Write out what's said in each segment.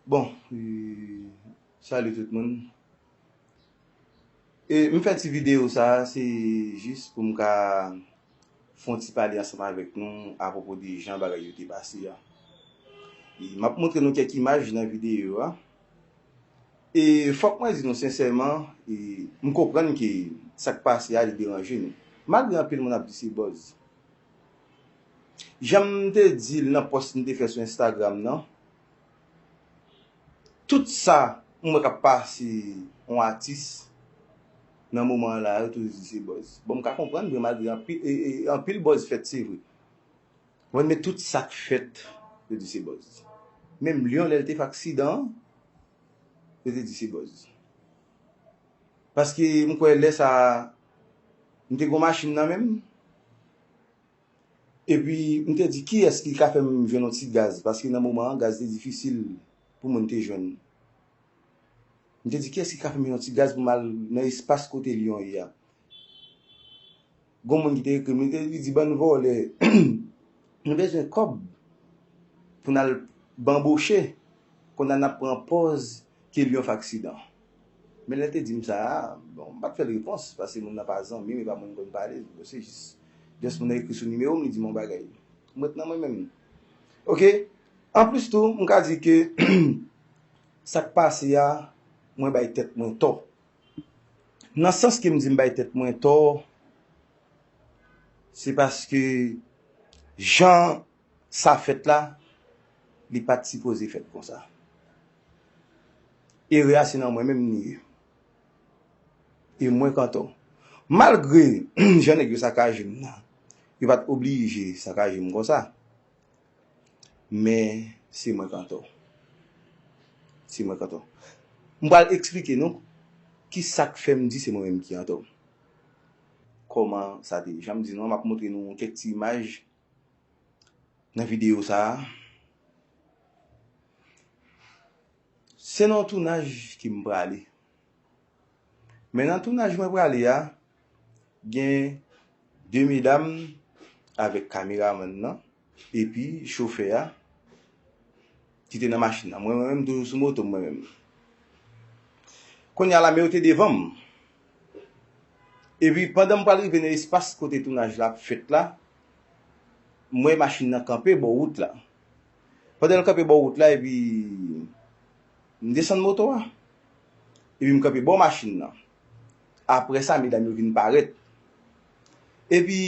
Bon, salut tout moun. E, m fè ti videyo sa a, se jis pou m ka fè yon ti pale ansanm avèk nou apwopo de jan bagay yo te pase a. E, m ap montre nou kèk imaj nan videyo a. E, fòk mwen di nou sensèman, e, m konprann ke sa k pase a li deranje nou. Malgre anpil moun ap di se buzz. Janm te dil nan pòs m te fè sou Instagram nan, tout sa m wè kap pase yon atis nan moman an la yo toujou di se buzz. Bon m ka konprann vre malgre anpil buzz fèt se vre. Bon men tout sak fèt yo di se buzz. Menm Lion lèl te fè aksidan an yo te di se buzz. Paske m kwè lè sa a m te gen yon machin nan men m. Epi m te di kiyès ki ka fè m jwenn yon ti gaz paske nan moman an gaz te difisil pou moun te jwenn. M te di kiyès ki ka fè m yon ti gaz pou m al nan espas kote Lyon ye a. Gon moun ki te ekri m, li te li di bann vòlè nou bezwen kòb pou n al banboche konn a n ap pran pòz ke Lyon fè aksidan. Men lè l te di m sa a, bon m pa t fè l repons paske moun nan pa zanmi m e pa moun m konn pale, bon se jis just moun nan ekri sou nimewo m li di m yon bagay. M ret nan mwen menm. Ok, anplis tou m ka di ke sa k pase a mwen bay tèt mwen tò. Nan sans ke m di m bay tèt mwen tò, se paske jan sa fèt la, li pa t sipoze fèt konsa. Erè a se nan mwen menm li ye. E mwen Kanton, malgre jan nèg yo sakaje m nan, yo pa t oblije sakaje m konsa. Men si mwen k antò. Si mwen k antò. M pral eksplike nou ki sa k fè m di se mwen menm ki antò. Kòman sa te ye. Jan m di nou an, m ap montre nou kèk ti imaj nan videyo sa a. Se nan yon tounaj ke m prale. Men nan tounaj mwen prale a, gen 2 medam avèk kameramann nan epi chofè a ki te nan machin nan. Mwen menm toujou sou moto m mwen menm. Kounya la men yo te devan m. Epi pandan m pral rive nan espas kote tounaj la ap fèt la, m wè machin nan kanpe bò wout la. Pandan l kanpe bò wout la epi m desann moto a. Epi m kanpe bò machin nan. Apre sa, medam yo vin parèt. Epi,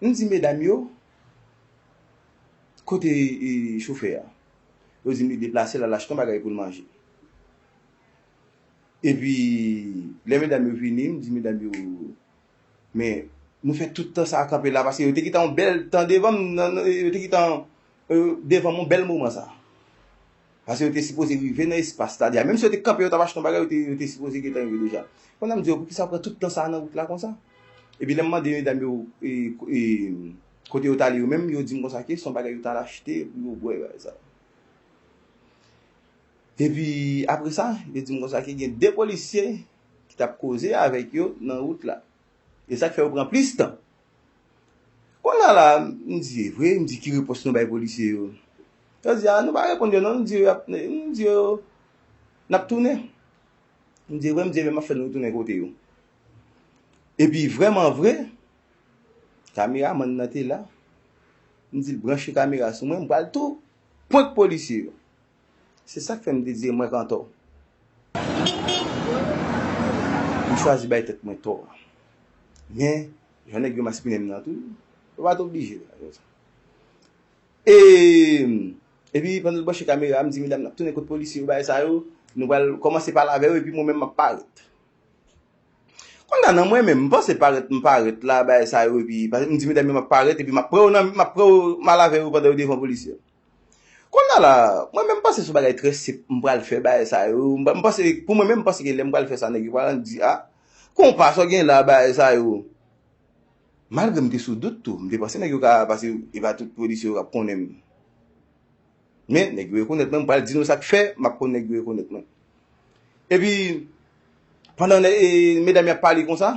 m di medam yo, Kote chofè a? Yo di m li deplase l al achte yon bagay pou l manje. Epi, lè medam yo vini, m di medam yo, Men, nou fè tout tan sa a kanpe la paske yo te kite yon bèl tan devan m, yo te kite devan m yon bèl moman sa a. Paske yo te sipoze rive nan espas Stadia. Menm si yo te kanpe, yo t ap achte yon bagay, yo te sipoze gentan rive deja. Konn a m di yo, poukisa yo pran tout tan sa a nan wout la konsa? Epi lè m mande medam yo kote yo t ale yo menm, yo di m konsa ke se yon bagay yo t al achte pou yo bwè, bagay sa a. Epi apre sa, yo di m konsa ke gen de polisye ki t ap koze avèk yo nan wout la. E sa k fè yo pran plis tan. Kounye a la, m di, e vre, m di ki repons nou bay polisye yo? Yo di, a nou pa reponn yo non, nou di yo, nou di yo n ap tounen. M di, e vre, m di, e byen m ap fè nou retounen kote yo. E pi vreman vre, kameramann nan te la, m di l branche kamera sou mwen, m pral tou prank polisye yo. Se sak fè m te di mwen k antò. M chwazi bay tèt mwen tò a. Men, jan nèg yo maspinen m nan tou, yo pa t oblije. E, epi pandan l branche kamera a, m di medam n ap tounen kot polisye yo bagay sa yo, nou pral kòmanse pale avè yo epi mwen menm m ap parèt. Konn a nan mwen menm, m panse parèt m parèt la bagay sa yo epi, m di medam yo m ap parèt epi m ap pran yo nan, m ap pran yo, m al avè yo pandan yo devan polisye yo. Kounya la, mwen menm m panse son bagay trè senp m pral fè bagay sa yo, m panse, pou mwen menm m panse gen lè m pral fè sa nèg yo pral di a, konpa sa w gen la bagay sa yo. Malgre m te sou dout tou, m te panse nèg yo ka, pase e pa tout pwodisè yo k ap konnen m. Men, nèg yo rekonèt mwen, m pral di nou sa k fè m ap konn nèg yo rekonèt mwen. Epi, pandan medam yo ap pale konsa.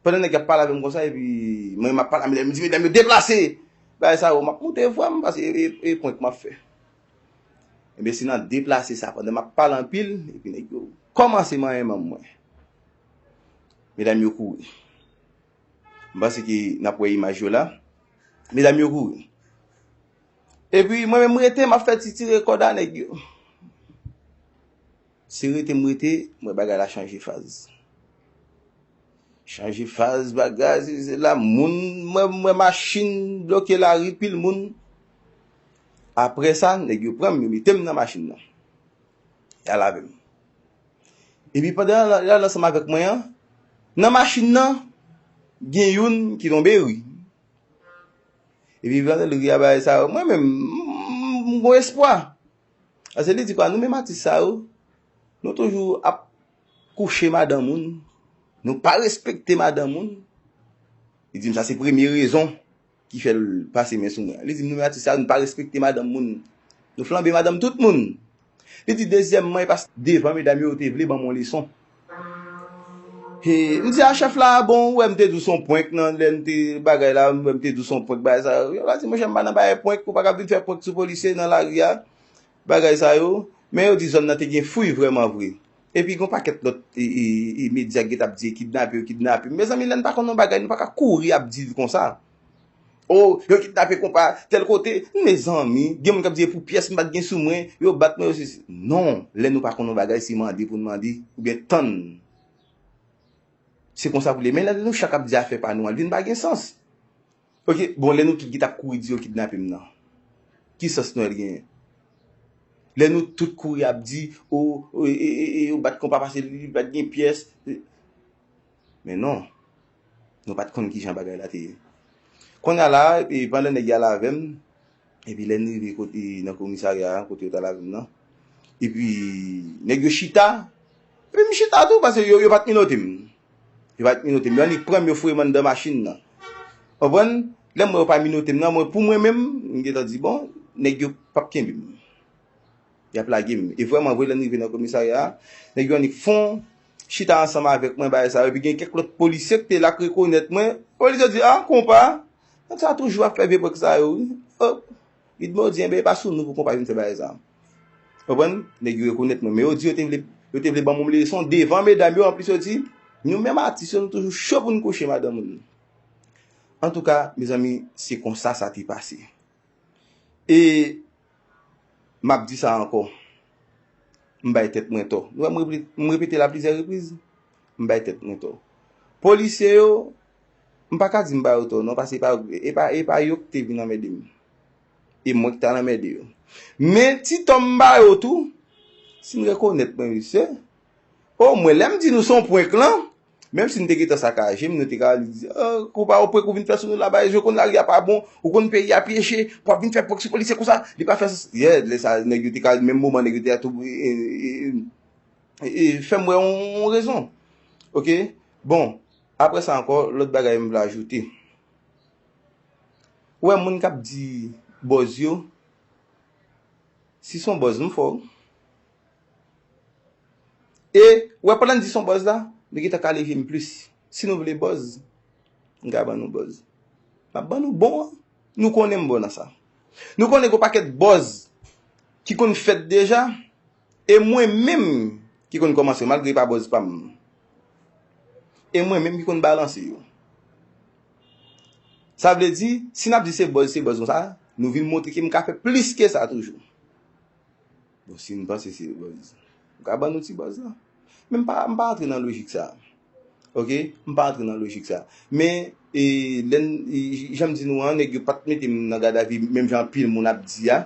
Pandan nèg yo ap pale avè m konsa epi mwen menm ap pale a medam yo, m di medam yo deplase! Bagay sa yo m ap moute vwa m paske e prank m ap fè. Ebyen se nan deplase sa pandan m ap pale anpil epi nèg yo kòmanse manyen manm mwen. Medam yo kouri. M panse ke n ap wè imaj yo la. Medam yo kouri. Epi mwen menm m rete m ap fè ti tire kòd a nèg yo. Se rete m rete m wè bagay la chanje faz. Chanje faz bagay si se la moun m wè machin bloke lari pil moun. Aprè sa nèg yo pran m yo mete m nan machin nan. Y al avè m. Epi pandan y al ansanm avèk mwen an nan machin nan gen youn ki tonbe ri. Epi pandan l ri a bagay sa mwen menm m gon espwa. Paske li di pa nou menm atis sa yo, nou toujou ap kouche madan moun, nou pa respekte madan moun. Li di m sa se premye rezon ki fè l pase men sou mwen. Li di m nou menm atis sa yo, nou pa respekte madan moun. Nou flanbe madan tout moun. Li di dezyèmman e paske devan medam yo, yo te vle ban m yon leson. He m di a chef la bon ou wè m te di w son prank nan lè m te bagay la m wè m te di w son prank bagay sa yo yo la di monchè m pa nan bagay prank ou pa ka vin fè prank sou polisye nan lari a bagay sa yo men yo di zòn nan te gen fouy vrèman vre epi gon pakèt lòt medya ki t ap di kidnape yo kidnape yo mezanmi lè n pa konn yon bagay nou pa ka kouri ap di l konsa. Oh yo kidnape konpa tel kote Mezanmi gen moun kap di epou pyès m pat gen sou mwen yo bat mwen yo se si Non lè nou pa konn yon bagay se mande pou n mande oubyen tann Se konsa pou l ye men lè nou chak ap di afè pa nou an l vin pa gen sans Ok bon lè nou tout ki tap kouri di yo kidnape m nan ki sans Nwèl genyen Lè nou tout kouri ap di oh yo bat konpa paske li pat gen pyès Men non. Nou pat konn kijan bagay la te ye. Konnya la a, e pandan nèg y al avè m, epi lè n rive kote nan komisarya a, kote yo t al avè m nan, epi nèg yo chita, epi m chita tou pase yo, yo pat minote m. Yo pat minote m. Yo annik pran m, yo foure m anndan machin nan. Konprann? Lè m wè yo pa minote m nan, mwen pou mwen menm, m gentan di bon, nèg yo pap kenbe m. yap lage m. E vrèman vre lè n rive nan komisarya a, nèg yo annik fon chita ansanm avèk mwen bagay sa yo epi gen kèk lòt polisye k te la k rekonèt mwen, polisye yo di a konpa nèg sa toujou ap fè vye prank sa yo wi oh li t mòdi enben e pa sou nou pou konpa vin fè bagay sa. Ou konprann, nèg yo rekonèt mwen men yo di yo te vle yo te vle ban m leson devan medam yo anplis yo di nou menm atis yo nou toujou cho pou n kouche madanm moun. Antouka mezanmi se konsa sa te pase. E m ap di sa ankò, m bay tèt mwen tò. Nou wè m repete l a plizyè repriz? M bay tèt mwen tò. Polisye yo, m pa ka di m ba yo tò non paske e pa yo ki te vin anmède m. E mwen ki t al anmède yo. Men, ti tò m ba yo tou, si n rekonèt mwen mesye, o mwen lè m di nou se yon prank lan, Menm si nou te gentan sakaje, moun yo te ka di, Kou pa ou prank ou vin fè sou nou la, Bareje ou konn lari a pa bon, ou konn peyi a pyeche, pou ap vin fè prank sou polisye konsa, li pa fè sans. Yè, lè sa a nèg yo te ka, menm moman nèg yo te a tou fè m wè yon rezon. Ok, bon, apre sa ankò, lòt bagay m vle ajoute. Ou wè moun k ap di bòz yo, si s on bòz m fè w. E, ou wè pandan n di s on buzz la, li gentan ka leve m plis. Si nou vle buzz, m ka ban nou buzz. M ap ban nou bon an. Nou konnen m bon nan sa. Nou konnen gen on pakèt buzz ki konn fèt deja, e mwen menm ki konn kòmanse yo, malgre li pa buzz pa m. E mwen menm ki konn balanse yo. Sa vle di, si n ap di se buzz, se buzz konsa, nou vin montre ke m ka fè plis ke sa toujou. Bon si nou panse se buzz. Ou ka ban nou ti buzz lan. Men m pa m pa antre nan lojik sa. Ok m pa antre nan lojik sa. Men e lè n jan m di nou an nèg yo pat mete m nan gadavi menm jan anpil moun ap di a.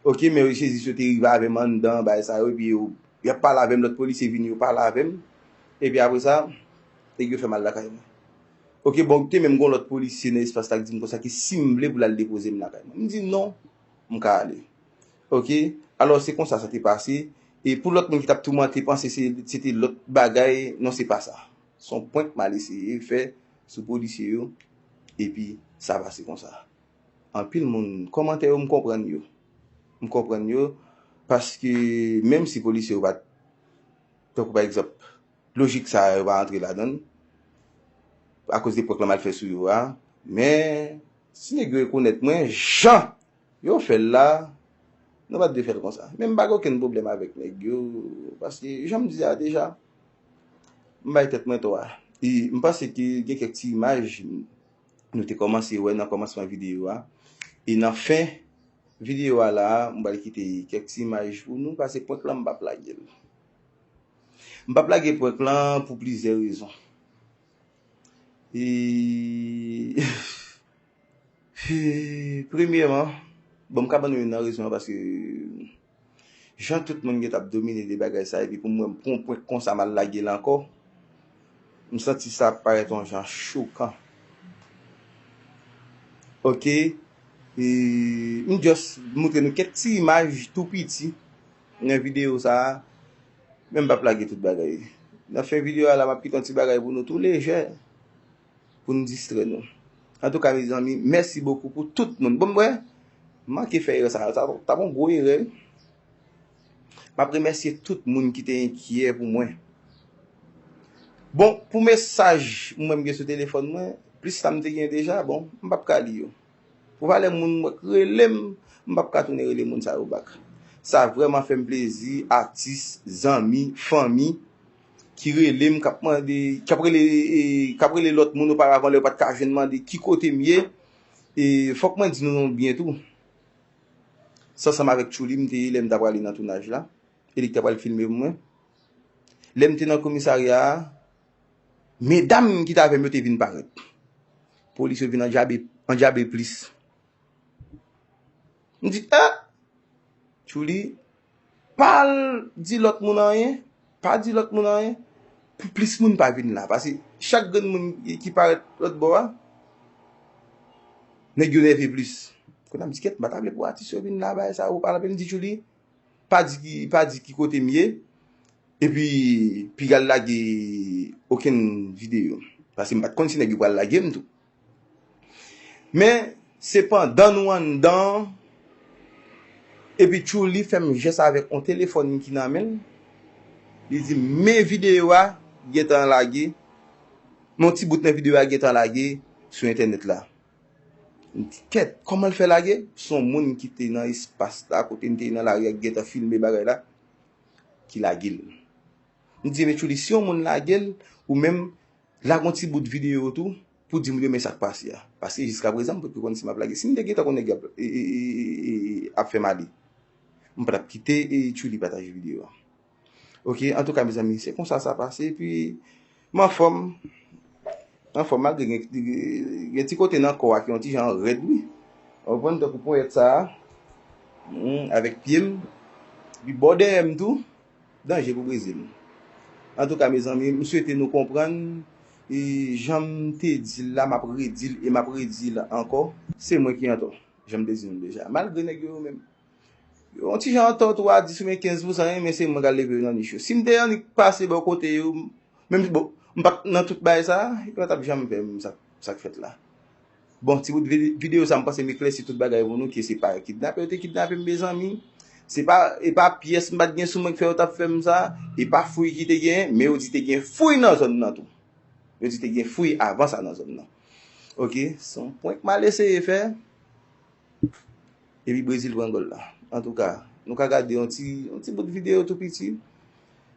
Ok men rechezis yo te rive avè m anndan bagay sa yo epi yo y ap pale avè m lòt polisye vini yo pale avè m. Epi apre sa nèg yo fè m al lakay mwen. Ok bon te menm gon lòt polisye nan espas la ki di m konsa ke si m vle pou l al depoze m lakay mwen. M di non. M ka ale. Ok. Alò, se konsa sa te pase. E pou lòt moun ki t ap toumante panse se te lòt bagay, non se pa sa. Se yon prank mal eseye fè sou polisye yo, epi sa pase konsa. Anpil moun, kòmantè yo m konprann yo. M konprann yo, paske menm si polisye yo pa t, tankou pa egzanp, lojik sa a yo pa antre ladan l, akoz de prank lan mal fè sou yo a, men Si nèg yo rekonèt mwen jan yo fè l la, nou pa t dwe fè l konsa. Men m pa gen okenn pwoblèm avèk nèg yo paske jan m di a deja, m bay tèt mwen tò a. E m panse ke gen kèk ti imaj nou te kòmanse wè nan kòmansman videyo a. E nan fen videyo a la a, m pral kite kèk ti imaj pou nou pase prank lan m p ap lage l. M p ap lage prank lan pou plizyè rezon. Premyeman, bon m ka ban nou youn nan rezon an paske jan tout moun gen t ap domine de bagay sa epi pou m wè m pran yon pwen konsa m al lage l ankò, m santi sa parèt yon jan chokan. Ok, m just montre nou kèk ti imaj tou piti nan videyo sa a. Men m pap lage tout bagay nan fen video a la map kite yon ti bagay pou nou tou lejè pou nou distrè nou antouka mezanmi mèsi bokou pou tout moun bon m wè m manke fè erè sa a sa tap yon gwo erè wi map remèsye tout moun ki te enkyè pou mwen bon pou mesaj mwen m gen sou telefòn mwen plis sa m te gen deja bon m pap ka li yo. Pou valè moun mwen k relem m pap ka tounen rele moun sa yo back. Sa vrèman fèm plezi atis, zanmi, fanmi ki relem kap mande kap rele kap rele lòt moun oparavan lè yo pat ka jwenn mande ki kotem ye e fòk mwen di nou yon byen tou se ansanm avèk Tchouli m te ye lèm ta prale nan tounaj la e li k ta pral filmem mwen lèm te nan komisarya a. Medam ki t avè m yo te vin parèt. Polis yo vin andyabe plis. M di, eh! Tchouli, pa al di lòt moun anyen, pa di lòt moun anyen, pou plis moun pa vin la. Pase chak grenn moun ki parèt lòt bò a, nèg yo nève plis. Kounye a m di, kèt, m pa ta vle pou atis yo vin la, bagay sa yo. M di, Tchouli, pa di ki pa di ki kote m ye epi pigal lage okenn video paske m pat konn si nèg yo pral lage m tou men se pandan nou anndan an epi tchouli fè m jès avèk on telefòn ki nan men l li di m men video a gentan lage men on ti bout nan video a gentan lage sou entènèt la Kèt, kòman l fè lage? Son moun ki te nan espas la, kote m te ye nan lari a ki gentan filme bagay la, ki lage l. M di, Mechouly, si yon moun lage l, ou menm, lage yon ti bout videyo tou, pou di moun yo men sa k pase a. Paske jiskaprezan, m pa t ko konn si m ap lage. Si m te gentan konn nèg yo ap fè m ale, m pa t ap kite Chouly pataje videyo a. Ok antouka mezanmi se konsa sa pase epi m anfòm m anfòm malgre gen ti kote nan kò a ki yon ti jan rèd wi ou konprann tankou ponyèt sa avèk pye m epi bò dèyè m tou danje pou brize m antouka mezanmi m swete nou konprann e jan m te di l la m ap redi l e m ap redi l ankò se mwen ki antò jan m te di nou deja malgre nèg yo yo menm. Yon ti jan antò tou a 10 oubyen 15 pou san yon men se mwen kal leve yo nan nich yo. Si m te annik pase bò kote yo, menm si bon, m pat nan tout bagay sa, yo pa tap janm fè m sa sa k fèt la. Bon, ti bout videyo sa m panse m eklèsi tout bagay pou nou ke se pa kidnape yo te kidnape m mezanmi. Se pa, e pa pyès m pat gen sou mwen k fè yo tap fè m sa, e pa fouy ki te gen, men yo di te gen fouy nan zòn nan tou. Yo di te gen fouy avan sa nan zòn nan. Ok, se yon prank m al eseye fè. Epi Brezil pran gòl la. Antouka, nou ka gade yon ti, yon ti bout videyo tou piti.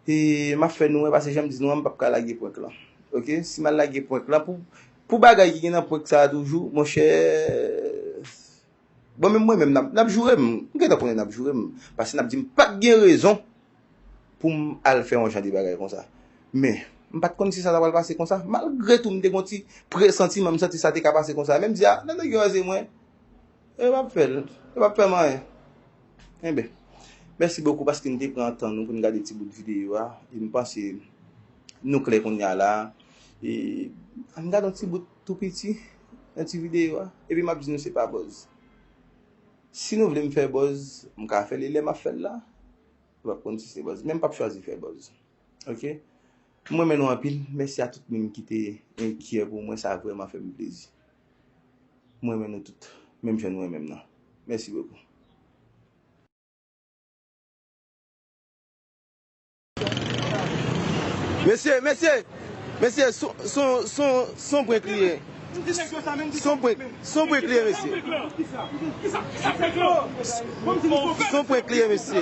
E map fè nou wè pase janm di nou an mpap ka lage prank lan. Ok, si mal lage prank lan pou pou bagay ki gen nan prank sa toujou, monchè Bon menm mwen menm nap joure m. M gentan konnen nap joure m. Pase nap di m pat gen rezon. pou m al fè yon jan de bagay konsa. Men, m pa t konn si sa ta pral pase konsa. Malgre tou, m te gen yon ti presantiman, m santi sa te ka pase konsa. Men m di, a, lè nèg yo raze mwen, yo pa p fè l, yo pa p fè m anyen. Enben, mèsi bokou paske n te pran tan nou pou n gade ti bout videyo a. E m panse nou klè kounya la a. E, ann gade yon ti bout tou piti nan ti videyo a. Epi m ap di nou se pa buzz. Si nou vle m fè buzz, m ka fè l e lè m ap fè l la. Ou pap konn si se buzz. Men m pap chwazi fè buzz. Ok. M renmen nou anpil. Mèsi a tout moun ki te enkyè pou mwen. Sa vrèman fè m plezi. M renmen nou tout. Menm jan nou renmen m nan. Mèsi bokou. Mesye, mesye, mesye, son prank li ye. Son prank li ye mesye. Son prank li ye mesye.